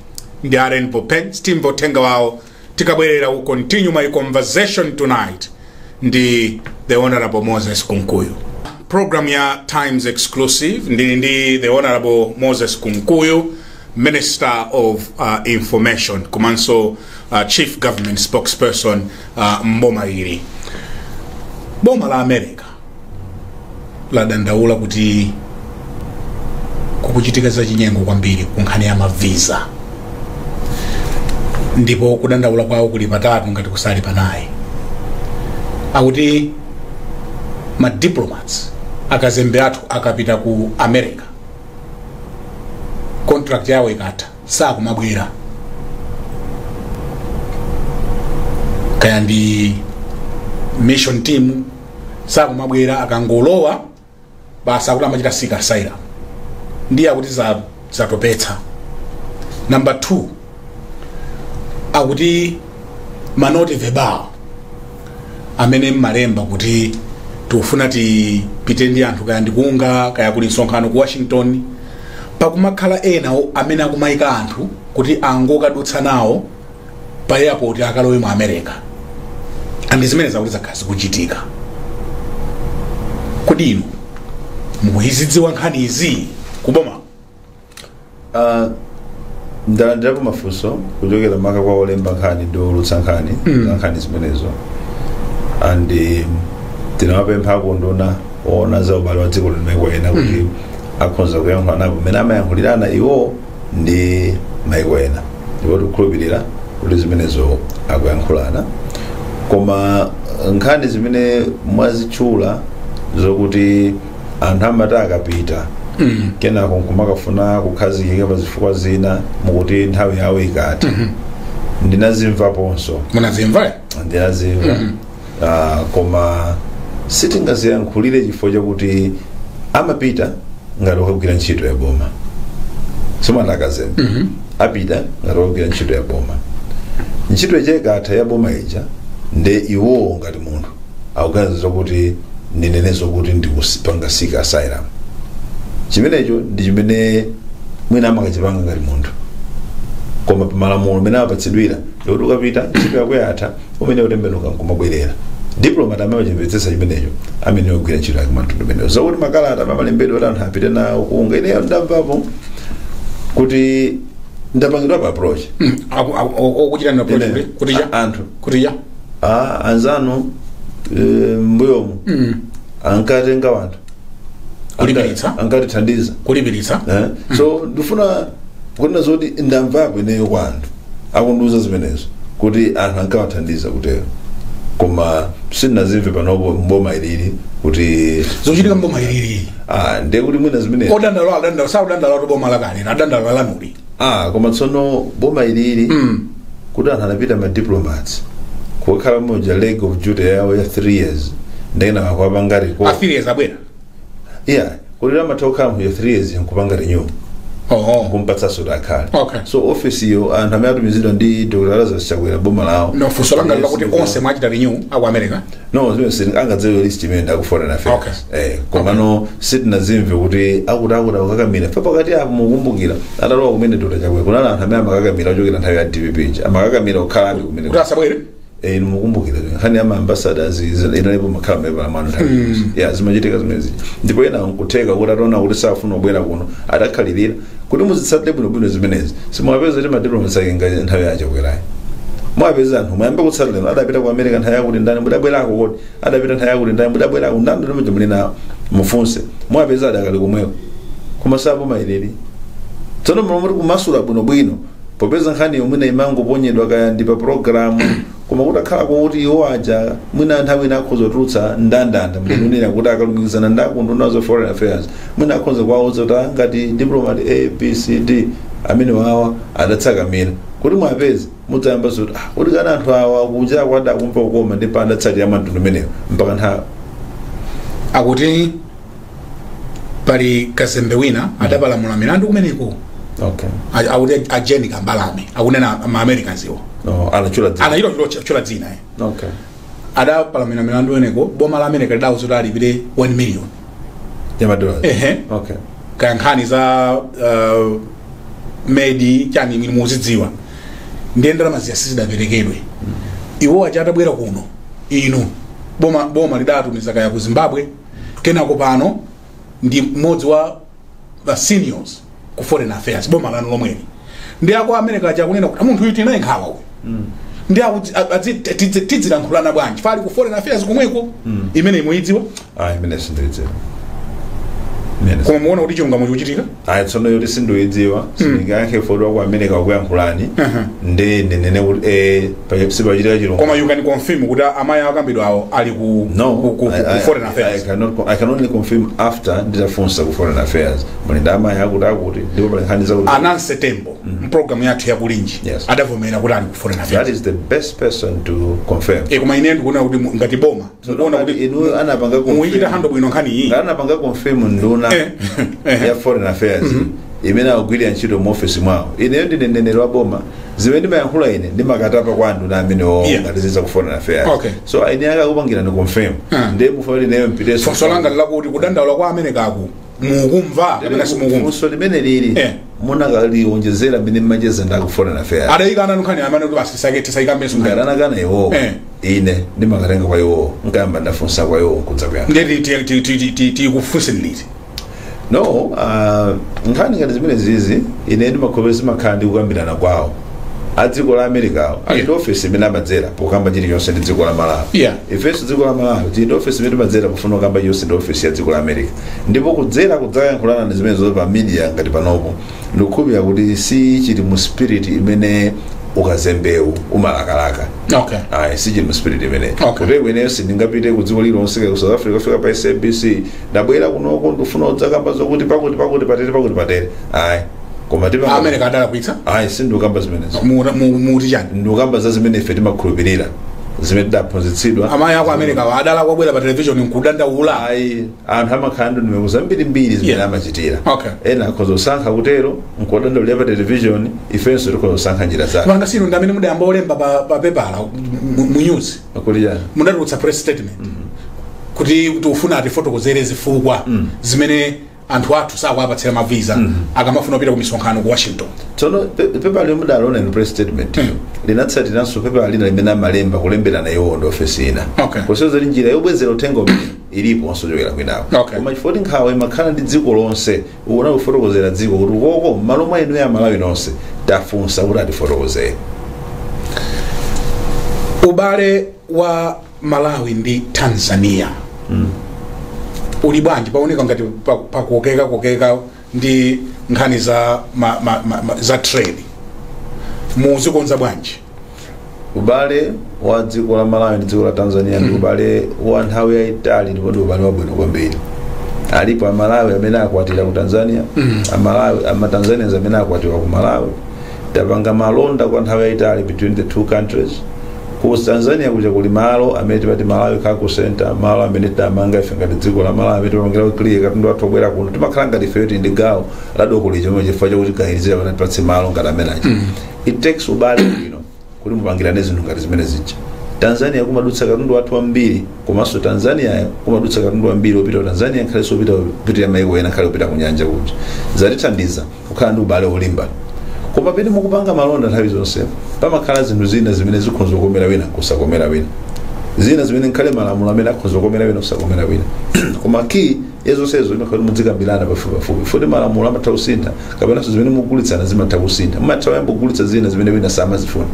ndi a Rainbow Paints timva uthenga wawo tikabwerera we continue my conversation tonight ndi the honorable Moses Kunkuyu. Program ya Times Exclusive ndili ndi the honorable Moses Kunkuyu Minister of uh, Information komanso uh, Chief Government Spokesperson uh, mboma ili boma la America ladandaula kuti kukuchitika za chinyengo kwambiri ku nkhani ya mavisa ndipo kudandaula kwawo kuli patatu ngati kusali panayi akuti madiplomats akazembe athu akapita ku america contract yawo ikatha sakumabwera kaya ndi mission team sakumabwera akangolowa basi akuti amachita seek asylum ndiye akuti za- zatopetsa number two akuti ma note verbale amene mmalemba kuti tikufuna tipite ndi anthu kaya ndi ku UNGA kaya kuli msonkhano ku washington pakumakhala ena o- amene akumayika anthu kuti angokadutsa nawo pa airport akalowe mu america and zimenezi akuti zakhala zikuchitika kodi inu mukuzidziwa nkhani izi kuboma Ah, ndalandirapo mafunso kuchokera maka kwa olemba nkhani ndi oulutsa nkhani Mm. za nkhani zimenezo and eh, tinawapempha akunduna oona za ubale wa dziko ndi maiko ena kuti akhonza kuyankhulanapo mmene amayankhulirana iwo ndi maiko ena ndipo tikukhulupirira kuti zimenezo akuyankhulana koma nkhani zimene mwazitchula zokuti anthu amati akapita kenako nkumakafuna kukhazikika pa zifukwa zina mukuti nthawi yawo ikatha ndinazimvaponso munazimva ndinazimva Ah, koma sitingaziyankhulire chifukwa chakuti amapita ngati okagwira ntchito ya boma simwana akazembe apita ngati okagwira ntchito ya boma ntchito ikatha ya boma ija nde iwowo ngati munthu akuganiza zokuti ndinenenso kuti ndikupanga seek asylum chimenecho ndi chimene mwina amakachipanga ngati munthu koma pamalamulo mmene apatsidwira ndikuti ukapita ntchito yako yatha umene utembenuka nkumabwerera diplomat amene wachimvetsetsa chimenecho amene wagwira ntchito yake mtundu umenewo zokuti makalata amene amalembedwa kuti anthu apite nawo kunja ineyo ndamvapo kuti ndapangidwapo approach Aku- aku- aku- okuchita na Ine- approach kuti cha a- anthu kuti cha ah, anzanu e, mbuyomu mm. ankatenga wanthu Kulipiritsa? Anka- ankatithandiza kulipiritsa Eh? so ndifuna kunena zoti ndamvako ineyo kwa anthu akundiuza zimenezo kuti anthu ankawathandiza kutero koma sindinazimve panopo mboma ilili kuti zochitika mboma ilili ah, ndiye kuti mwina zimene odandaula adandaula sakudandaula kuti boma lakale adandaula lanuli ah koma tsono boma ilili Mm. kuti anthu anapita ma diplomats kukhala muja leg of duty yawo ya 3 years ndena wakwapanga report affiliates abwera yeah kuti amatha kukhala muja 3 years nkupanga renew oho kumpatsanso kuti akhale Okay. so office iyo anthu amene atumizidwa ndi dr lazarus chakwera boma lawo nde funso langa Yes, lakuti yes. onse mwachita renew aku america no zimene sitting- angadziwe list imene nda ku foreign affairs Okay. eh, komano sitinazimve kuti akuti akuti akukakamira pa pakati apo mukumbukira atalowa kumene dr chakwera kunali anthu amene amakakamira ochokera nthawi ya dpp ija amakakamira kukhalabe kumene kuti asabwere Eh, inu mukumbukira nkhani ya maambasadas inalipo imakhala mpepala mano nthawi zonse. ya zimachitika zimezi ndipo ena nkutheka kuti ataona kuti safuna kubwera kuno adakhalirira kuti muzitsatire bwinobwino zimenezi simwapeza kuti ma diplomats ake ngati nthawi ya achakwerayi mwapeza anthu mwayamba kutsata lero adapita ku america nthawi yakuti ndani mudabwerako kodi adapita nthawi yakuti ndani mudabwerako ndani ndimene muli nawo mufunse mwapeza adakali komweko koma saboma ilili tsono mulomoti kumasula bwinobwino popeza nkhaniyo mwina imangoponyedwa kaya ndi pa programu Koma kutakhala kuti iwo aja mwina nthawi ina akhoza kutulutsa ndandanda mmene kunena kuti akalumikizana ndi akuunduna wa za foreign affairs mwina akhoza kuwauza kuti "Ah, ngati diplomat a b c d amene wawa adatsakamira kuti mwapeze mudzayamba zoti ah, kuti kani anthu awa kuja kwada akumva kukoma ndipo adatsatira mtundu umenewu mpaka nthawi akuti pali kazembe wina adapalamula milandu kumeneko okay A- akuti a jeni kambalame akunena ma americans iwo no anatchula dzina anachita kutchula- kutchula dzina eh. okay adapalamula milandu kumeneko boma la america lidauza kuti alipire 1 million ya madola ehe okay kaya nkhani za uh, medi chani zimene mukuzidziwa ndiye ndalama zija sizidaperekedwe iwo aja atabwera kuno inu boma boma lidatumiza kaya ku zimbabwe kenako pano ndi mmodzi wa ma seniors ku foreign affairs boma lanu lomweli ndi a ku america aja akunena kuti munthu uyu tili naye nkhawa uyu ndi akuti- a- adzi- tidzi- tidzilankhulana bwanji ali ku foreign affairs komweko imeneyi mukuyidziwa ayi imeneyi sindiyidziwa imeneyi koma muona kuti chilungamo chikuchitika ayi tsono yoti sindiyidziwa sindingayankhe poti wa ku america wakuyankhulani nde ndinene kuti eh, pa- sipachitika chilunga koma you can confirm kuti amayi akambidwa awo ali ku no ku- ku- I, ku I, foreign I, affairs cannot, co- I can only confirm after nditafunsa ku foreign affairs muli ndi amayi akuti akuti ndipo pali nkhani zakuti a nancy tembo mpulogalamu yathu ya kulinji Yes. adavomera kuti ali ku foreign affairs that is the best person to confirm Eh, koma ine ndikuona kuti mu- ngati boma mukuona Ngati kuti inuyo anapanga muyichita confirm. handle bwino nkhani iyi Ngati anapanga confirm nduna Eh, eh. ya foreign affairs imene akugwirira ntchito mu office mwawo ineyo ndine mneneri wa boma zimene ndimayankhula ine ndimakatapa kwa anduna amene Yeah. o- kuphatikiza ku foreign affairs Okay. so eni ake akupangirani confirm Ah. ndiye mufunanji nayo mpitenso funso langa nlakuti kudandaula kwa america-ku mukumva kapena simukumva funso limenelili Eh. mukanaliwonjezera mmene mumacheza ndi a ku foreign affairs adayikana nkhani imene kuti basi tisake tisayikambenso ngati anakana iwowo Eh. ine ndimakatenga kwa iwowo nkayamba ndafunsa kwa iwowo nkudza kuyankha ndiye tikufunseni liti no ah, nkhani ngati zimenezizi ine ndimakhulupirira zimakhala ndi kukambirana kwawo a dziko la america-wo ali ndi ofesi imene amadzera pokamba chilichonse ndi dziko la malawi Yeah. ifenso dziko la malawi tili ndi ofesi imene timadzera pofuna kukamba chilichonse ndi ofesi ya dziko la america ndipo kudzera kudzayankhulana zimenezozo pa media ngati panopo ndikukhulupirira kuti si chili mu spirit imene ukazembewu umalakalaka okay ayi si chili mu spirit imene Okay. kuti ineyo sindingapite ku dziko lilonse ku south africa kufika pa sabc ndabwera kunoko ndikufuna kudzakamba zokuti pakuti pakuti patere pakuti patere ayi koma mukuti a america adalakwitsa ayi sindikukamba zimenezo mu- mu- muti chani ndikukamba za zimene ife timakhulupirira zimene tidaphunzitsidwa amayi a ku america-wa adalakwa kubwera pa television nkudandaula ayi anthu amakhala ndi ndondomeko zambirimbiri zimene Yeah. amachitira Okay. ena akhoza kusankha kutero nkudandaulira pa televishoni ifenso tikhoza kusankha njira zake pajatu inu ndi amene mudayamba kulemba pa, pa pepala mu mu news kuti chani mudatulutsa press statement kuti tikufuna atifotokozere zifukwa zimene anthu athu sakuwapatsira ma visa akamafuna kupita ku misonkhano ku washington tsono pe- pepala lomwe mudalona in press statement linatsatiranso pepala lina limene amalemba kulemberana iwo ndi ofesi ina Okay. kusonyeza kuti njira yobwezera uthengawo iliponso yochokera kwinako Okay. koma chifukwa kuti nkhawa imakhala ndi dziko lonse ukuna kufotokozera dziko kuti ukoko mmalo mwa inuyo amalawi nonse tafunsa kuti atifotokozere ubale wa malawi ndi tanzania uli bwanji paoneka ngati pa- pakokeka kokeka ndi nkhani za ma, ma, ma, ma, za trade mudzikonza bwanji ubale wa dziko la malawi ndi dziko la tanzania ndi ubale wa nthawi yayitali ndipo ndi ubale wabwino kwambiri alipo amalawi amene akwatira ku tanzania amalawi amatanzanians amene akwatira ku malawi tapanga malonda kwa nthawi yayitali between the two countries ku tanzania kuja kuli malo amene timati malawi cargo center malo amene tidamanga ife ngati dziko la malawi amene timapangira kuclear katundu wathu obwera kuno timakhala ngati ifeyo tili ndi gawo la doko lija chimene chifukwa chakuti kuganizira pakuti atipatse malo ngati amenaja it takes ubale you know kuti mupangirane zinthu ngati zimene zija tanzania kumadutsa katundu wathu wambiri komanso tanzaniayo kumadutsa katundu wambiri wopita ku tanzania ngakhalenso opita kupitira maiko ena ngakhale opita ku nyanja kuja zatithandiza kukhala ndi ubale wolimba koma pamene mukupanga malonda nthawi zonse pamakhala zinthu zina zimene zikhoza kukomera wina kusakomera wina zina zimene ngakhale malamulo amene akhoza kukomera wina kusakomera wina koma key ya zonsezo imakhala kuti mudzikambirana pafupipafupi poti malamulo amatha kusintha kapenanso zimene mukugulitsana zimatha kusintha mumatha kuyamba kugulitsa zina zimene wina samazifuna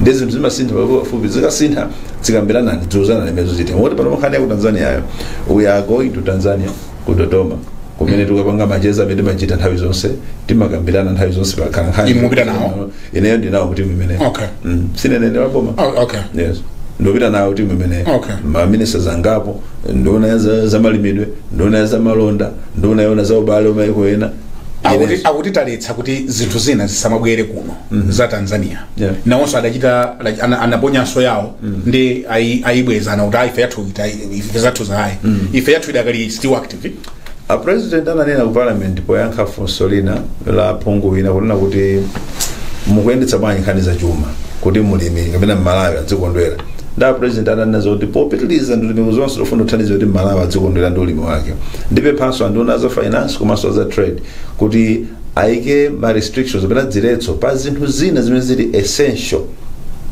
ndi zinthu zimasintha pafupipafupi zikasintha dzikambiranani dziuzanani zimene zikuchitika moti pano nkhani ya ku tanzaniayo we are going to tanzania ku dodoma kumene tikukapanga macheza amene timachita nthawi zonse timakambirana nthawi zonse pakhala nkhani Inu mupita nawo? ineyo ndili nawo mu team imeneyo Okay. mm. ndine mneneri wa boma Oh, okay. yes ndopita nawo ku team imeneyo Okay. maminista angapo nduna ya za- zamalimidwe nduna ya zamalonda nduna yoona za ubale wa maiko ena Akuti- akuti taletsa kuti zinthu zina zisamabwere kuno za tanzania Yeah. nawonso adachita like, ana- anaponyanso yawo ndi ayi- ayibwezana kuti ayi ife yathu ita- ife zathuzo ayi ife yathu idakali still active a president ananena ku parliament poyankha funso lina la phungu wina ponena kuti mukuyendetsa bwanji nkhani za chuma kuti mulimi kapena mmalawi adzikondwera nde a president ananena zoti popitiliza ndondomeko zonse zofuna kuthandiza kuti mmalawi adzikondwera ndi ulimi wake ndipemphenso anduna a za finance komanso a za trade kuti ayike ma restrictions kapena ziletso pa zinthu zina zimene zili essential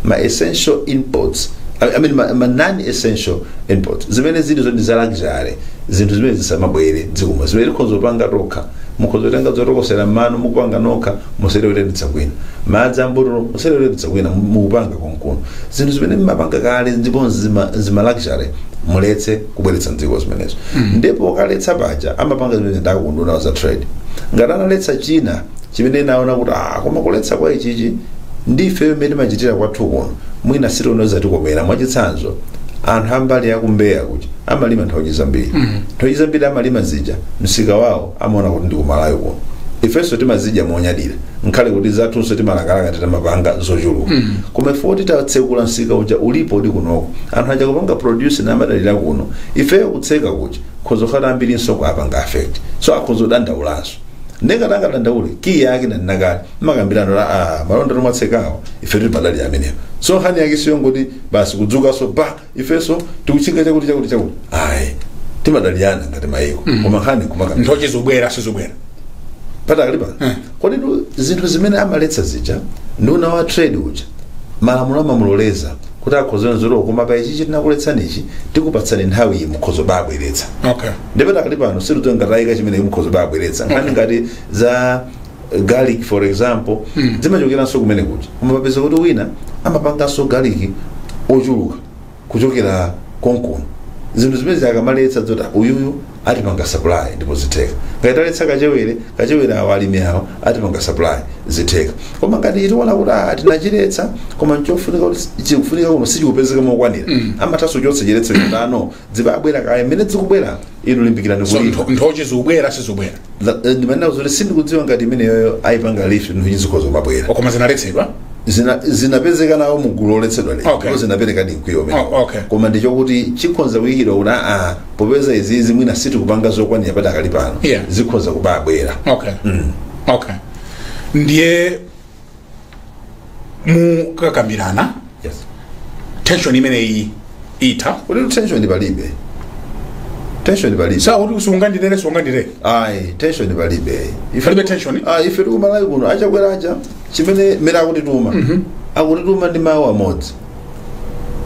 ma essential imports I I mean ma, ma non essential imports zimene zili zoti za luxury zinthu zimene zisamabwere dziko muno zimene tikhoza kupanga tokha mukhoza kutenga zotokosera mmano mukupanga nokha musiye kuitanitsa kwina madzi ambotolo musiye kuitanitsa kwina mukupanga konkuno zinthu zimene mmapanga kale ndipo zima, zima luxury muletse kubweretsa mdziko zimenezo ndipo kaletsa paja amene amapanga zimenezi ndi a ku unduna wa za trade ngati analetsa china chimene tinaona kuti ah koma kuletsa kwa ichichi ndi ife mmene timachitira kwathu kuno mwina sitiona zotikomera mwachitsanzo anthu a mbali ya ku Mbeya kuti amalima nthochi zambiri nthochi zambiri amalima zija msika wawo amaona kuti ndi ku Malawi kuno ifenso timazidya monyadira ngakhale kuti zathunso timalakalaka titamapanga zochuluka koma ife titatsekula msika uja ulipo uli kunoko anthu aja kupanga produce na amadalira kuno ifeyo kutseka kuja kukhoza kukhala ambirinso kuapanga affect so akhoza kudandaulanso nde ngati angadandaule kiyi yake ndi ndikanali mmakambirano a ah, malonda tomwe atsekawo ife timadalira amenewo so nkhani yake siyongoti basi kudzukanso ba ifenso tikutchinga chakuti chakuti chakuti ayi timadalirana ngati mayiko koma nkhani kumakambirana nthochi zobwera sizobwera padakali pano koditu zinthu zimene amaletsa zija nduna wa trade uja malamulo amamuloleza kuti akhoza kuzilola koma pa ichi tinakuletsani ichi tikupatsani nthawi iyi mukhoza kubabweretsa okay ndipo padakali pano sikuti ngati ayika chimene mukhoza kubabweretsa nkhani ngati za garlic for example Mm. zimachokeranso kumene kuja koma tapeza kuti wina amapanganso garlic ochuluka kuchokera konkuno zinthu zimene akamaletsa zoti uyuyu atipanga supply ndipo zitheka ngati taletsa kachewere kachewere awo alimi awo atipanga supply zitheka koma ngati tiona kuti ah, tinachiletsa koma nchofunika kuti chikufunika kuno sichikupezeka mokwanira Mm. amathanso kuchotsa chiletso chotani zibabwera kaya mmene zikubwera inu limbikirani so kulima ntho- nthochi zikubwera sizikubwera Za- eh, ndimanena kuti sindikudziwa ngati imeneyoyo ayipanga lift nthochi zikhoza kumabwera koma zinaletsedwa Zina- zinapezeka nawo mu gulu loletsedwa lero Okay. ndipo zinapereka ndi mkwiyo kumene. Oh, okay. koma ndichokuti chikhoza kuyikidwa kuti aa popeza izizi mwina sitikupanga zokwanira padakali pano Yeah. zikhoza kubabwera okay okay ndiye mukakambirana yes tension imeneyi itha kuti tensioni palibe tensioni palibe sikuti usungandilere sungandilere ayi tensioni palibe Ife- Palibe tension? Ah, ife ndi ku Malawi kuno a Chakwera aja chimene mmene akutituma akutituma ndi mawu amodzi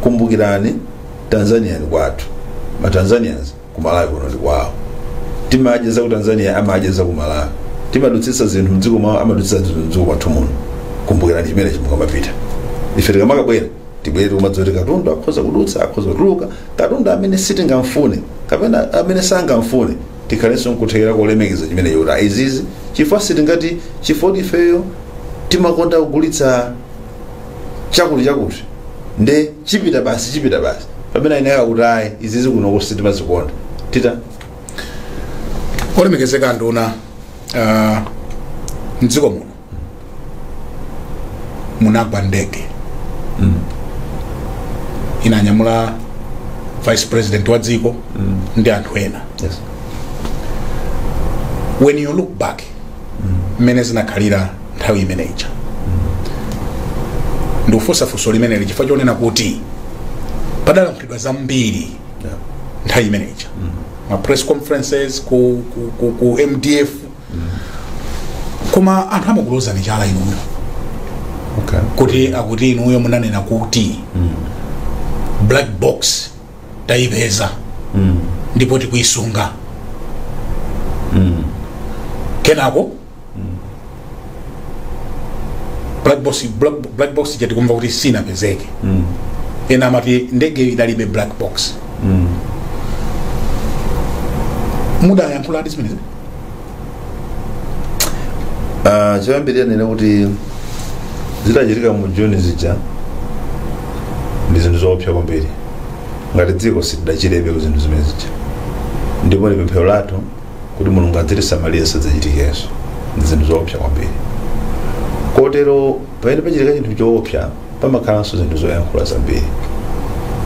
kumbukirani Tanzania ni kwathu ma Tanzanians ku Malawi kuno ndi kwawo timadya za ku Tanzania amadya za ku Malawi timadutsitsa zinthu mdziko mwawo amadutsitsa zinthu mdziko mwathu muno kumbukirani chimenechi mukamapita ife tikamakabwera tibwere tikumadziwa kuti katundu akhoza kudutsa akhoza kutuluka katundu amene sitingamfune kapena amene sangamfune tikhalenso nkuthekera kolemekeza chimenecho kuti aa izizi chifukwa sitingati chifukwa ifeyo timakonda kugulitsa chakuti chakuti nde chipita basi chipita basi pamene ine nkati ayi izizi kuno sitimazikonda tita olemekezeka nduna uh, mdziko muno munagwa ndege mm. inanyamula vice president wa dziko mm. ndi anthu ena yes. when you look back mmene zinakhalira nthawi imene ija ndikufunsa funso limeneli chifukwa chonena kuti padalankhulidwa zambiri nthawi imene ija ma press conferences ku, ku, ku, ku mdf koma anthu amakulozani chala inuyo okay. kuti akuti inuyo munanena kuti black box tayipeza ndipo tikuyisunga kenako black box black, black box ija tikumva kuti sinapezeke ena amati ndege idalibe black box mudayankhuladi zimenezi Ah, choyambirira ninene kuti zidachitika mu juni zija ndi zinthu zoopsa kwambiri ngati dziko sitidachirebe ku zinthu zimene zija ndipo ndi pemphero lathu kuti mulungu adzitisamalire zisadzachitikenso ndi zinthu zoopsa kwambiri kotero pamene pachitika chinthu choopsa pamakhalanso zinthu zoyankhula zambiri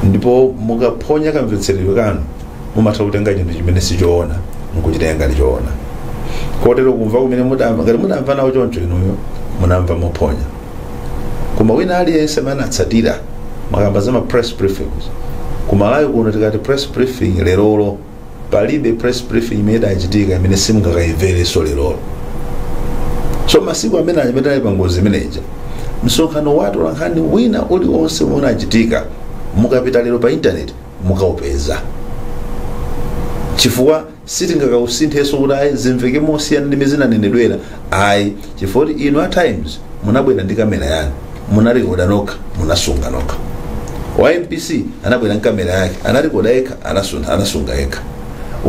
ndipo mukaphonya kamvetseredwe kanu mumatha kutenga chinthu chimene sichoona nkuchitenga ngati choona kotero kumva kumene mudamva ngati mudamva nawo choncho inuyo munamva mophonya koma wina aliyense amene anatsatira mukamba za ma press briefings kumalawi kuno tikati press briefing lerolo palibe press briefing imene idachitika imene simungakayimverenso lerolo so masiku amene amene ali pangozi imeneja msonkhano wa atolankhani wina uliwonse umene unachitika mukapita lero pa intaneti mukaupeza chifukwa sitingakausinthenso kuti ayi zimveke mosiyana ndi mmene zinanenedwera ayi chifukwa kuti inu a times munabwera ndi kamera yanu munarekoda nokha munasunga nokha wa mbc anabwera ndi kamera yake anarekoda yekha anasunga yekha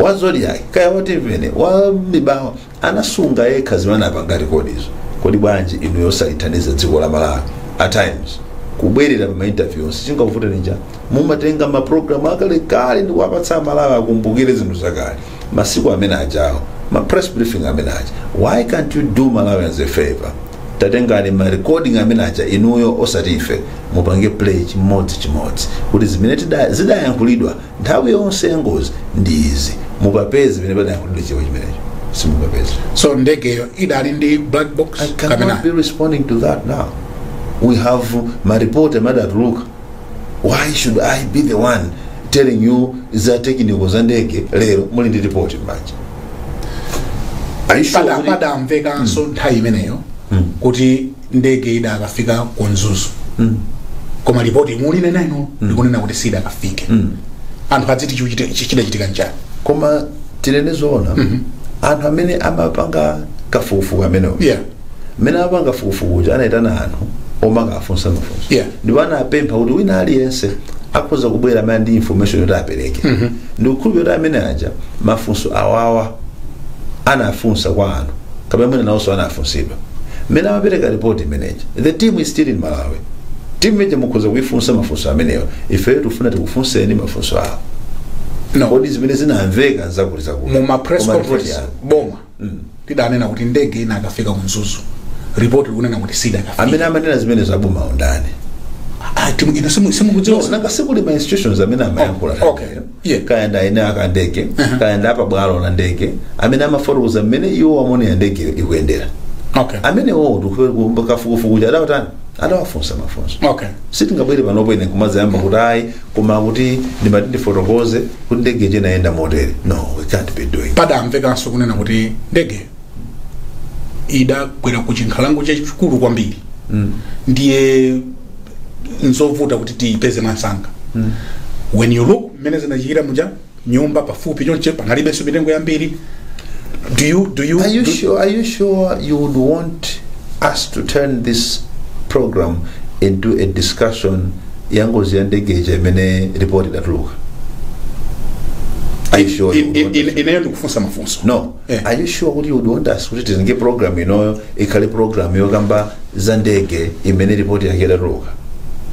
wa zodiak kaya wa timveni wa mibawa anasunga yekha zimene anapanga rekodizo kodi bwanji inuyo osalithandiza dziko la malawi a times kubwerera pa mainterview onse chingakuvuteni nija mumatenga mapulogalamu akalekale ndi kuwapatsa amalawi akumbukire zinthu zakale masiku amene ajawo ma press briefing amene aja why can't you do malawians a favor tatengani ma recording amene aja inuyo osati ife mupange play chimodzi chimodzi kuti zimene tida- zidayankhulidwa nthawi yonse ya ngozi ndi izi mukapeze zimene padayankhulidwa chichewa chimenecho simukapeze so ndegeyo idali ndi black box I cannot be responding to that now. We have ma report amene adatuluka. Why should I be the one telling you za technical za ndege lero muli ndi report manje? Are you sure? pada kuti- padamvekanso nthawi imeneyo kuti ndege idakafika ku mzuzu koma lipoti imene muli nayo ino likunena kuti sidakafike anthu adziti chichite- chi- chidachitika nchani koma tinene zoona anthu amene amapanga kafukufuku amenewo yeah mmene amapanga kafukufuku uja anayitana anthu omakafunsa mafunso Yeah. ndipo anapempha kuti wina aliyense akhoza kubwera amene ali ndi information yoti apereke ndikukhulupirira kuti amenewaja mafunso awawa anafunsa kwa anthu kapena mwina nawonso anafunsidwa mmene amapereka ripoti imeneja the team is still in malawi timu imeneija mukhoza kuifunsa mafunso amenewa ifeyo tifuna tikufunseni mafunso awo No. kodi zimene zinamveka zakuti zakuti mu ma press Koma report conference yawo. boma lidanena kuti ndege inakafika ku mzuzu report likunena kuti sidakafike amene amanena zimenezo aboma undani Ah, imu inu simu- simukudziwa nanga sikuli ma institutions amene amayankhula okay Yeah. kaya ndi a eni ake a ndege kaya ndi apabwalo la ndege amene amafotokoza mmene iwo amaonera ndegeyo ikuyendera okay amenewowo a kafukufuku aja adawatani adawafunsa mafunso okay sitingabwere panopo ine kumazayamba kuti ayi koma kuti ndimati ndifotokoze kuti ndege ija inayenda motere no we can't be doing that. padamvekanso kunena kuti ndege idagwera ku chinkhalango chachikulu kwambiri ndiye nzovuta kuti tiyipeze mwansanga when you look mmene zinachitikira muja nyumba pafupi chonche panalibenso mitengo yambiri do you, do you, Are you do, sure? Are you sure you would want us to turn this program into a discussion ya ngozi ya ndege ija imene report idatuluka? Are you sure? you in, would in, want in, ineyo ndikufunsa mafunso no Eh, are you sure kuti you want us kuti tipange program inoyo ikhale program yokamba za ndege imene ripoti yake idatuluka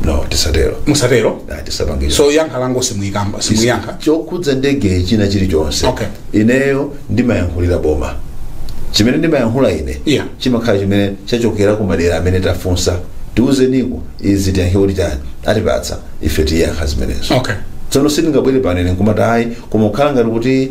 no tisatero musatero Ah, tisapange so yankho lanu simuyankha simuyankha chokhudza ndege china chilichonse Okay. ineyo ndimayankhulira boma chimene ndimayankhula ine Yeah. chimakhala chimene chachokera ku madera amene tafunsa tiuzeniko izi tiyankhe kuti chani atipatsa ife tiyankha zimenezo okay tsono sindingabwere pano ine nkumati ayi koma kukhala ngati kuti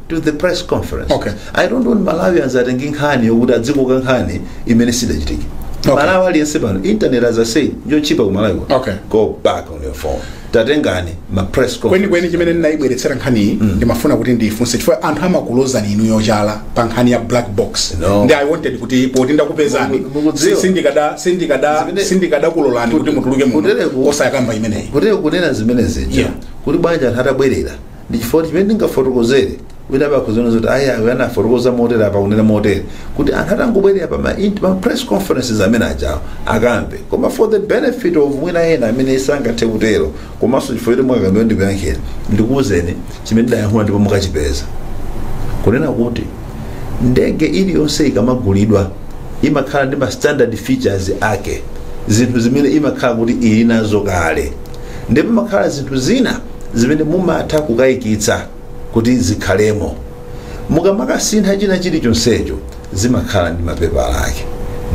to the press conference Okay. i don't want malawians atenge nkhani yokuti azikoka nkhani imene siidachitike Okay. malawi aliyense pano internet as i say njochipa kumalawi kuno. Okay. go back on your phone tatengani ma press conference kwenikweni chimene ndinayibweretsera nkhaniyi ndimafuna kuti ndifunse chifukwa anthu amakulozani inuyo chala pa nkhani ya black box No. ndi i wanted kuti poti ndakupezani Muku- mukudziwa. si- sindikada- sindikada- Zimene- sindikadakulolani kuti mutuluke Kutereku- muno osayakamba imeneyi kuti kunena zimene zija Yeah. kuti bwanji anthu atabwerera ndi chifukwa chimene ndingafotokozere wina apa akuziona zoti ayi ayi anafotokoza motere apa kunena motere kuti anthu atangobwerera pa ma, int- ma press conferences amene ajawo akamve koma for the benefit of mwina ena amene sangathe kutero komanso chifukwa choti mwakakamira ndikuyankhani ndikuwuzeni chimene ndidayankhula ndipo mukachipeza kunena kuti ndege iliyonse ikamagulidwa imakhala ndi ma standard features ake zinthu zimene imakhala kuti ili nazo kale ndipo mumakhala zinthu zina zimene mumatha kukayikitsa kuti zikhalemo mukamakasintha china chilichonsecho zimakhala ndi mapepala ake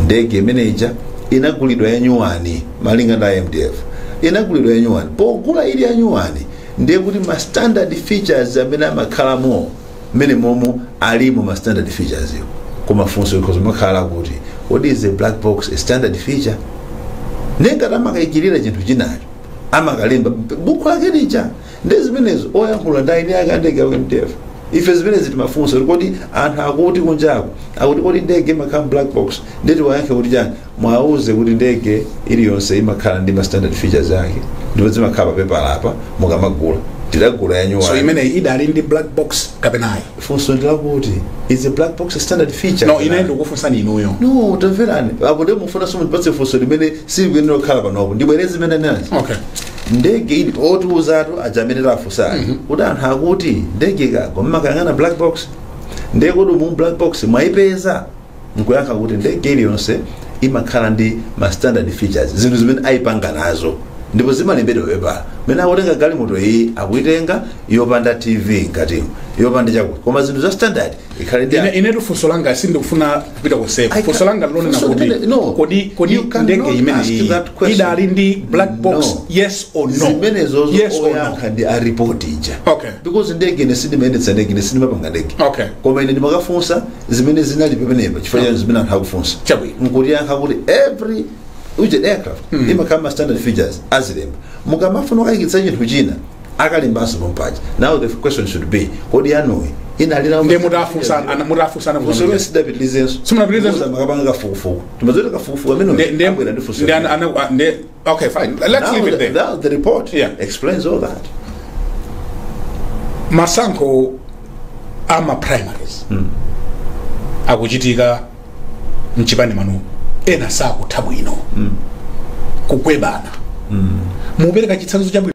ndege imene ija inagulidwa yanyuwani malinga ndi a mdf inagulidwa yanyuwani pogula ili yanyuwani ndiye kuti ma standard features amene amakhalamo mmene momo alimo ma standard features iwo koma funso ikhoza makhala kuti was the black box a standard feature nde ngati amakayikira chinthu chinacho amakalemba buku lake lija ndi zimenezo oyankhula ndi eni ake a ndege ya mdf ife zimenezi timafunsa kuti kodi anthu akuti kunjako akuti kodi ndege imakhala black box nde tiwayankhe kuti chani mwauze kuti ndege iliyonse imakhala ndi ma standard features ake ndipo zimakhala papepala apa mukamagula tidagula yanyuwani so imeneyi idali ndi black box kapena ayi funso ndi lakuti is a black box a standard feature no ine ndikufunsani inuyo no tamverani apo ndiye mufuna mundipatse funso limene silikuyenera kukhala panopo ndibwereze zimene ndinanena okay ndege ili otiuzatu aja amene tafunsani kuti anthu akuti ndege ikagwa mmakayang'ana black box nde kodi umo black box mwaipeza nkuyankha kuti ndege iliyonse imakhala ndi ma standard features zinthu zimene ayipanga nazo ndipo zimalembedwa papepala mene akutenga galimoto iyi akuyitenga yopanda tv mkatimo yopanda chakuti koma zinthu za standard ikhale nazo ine inetu funso langa sindikufuna kupita I konseko can- funso langa ndi lonena funso kuti limene- no. kodi kodi You cannot ndege ask imeneyi that question. idali ndi black box No. yes or no zimenezozo yes or no oyankha ndi a report ija Okay. because ndege ine sindimayendetsa ndege ine sindimapanga ndege Okay. koma ine ndimakafunsa zimene zinali pamenepa chifukwa chani zimene anthu akufunsa Chabwino. nkutiyankha kuti every which aircraft imakhala ma standard features azilemba mukamafuna kukayikitsa chinthu china akalembanso pompaja now the question should be kodi yanuyi inali nayo ndiye mutafunsa ana- mutafunsana kufunsa usoro sitidapitilizenso Simunapitilizenso? makapanga kafukufuku timazoti kafukufuku Nde- nde- amene abwera ndi funso nde ana- ana- nde Okay, fine. Let's leave it there. Now the report explains all that. masankho a ma primaries akuchitika mchipani mwanu ena sakutha bwino kukubebana mukupereka chitsanzo chabwino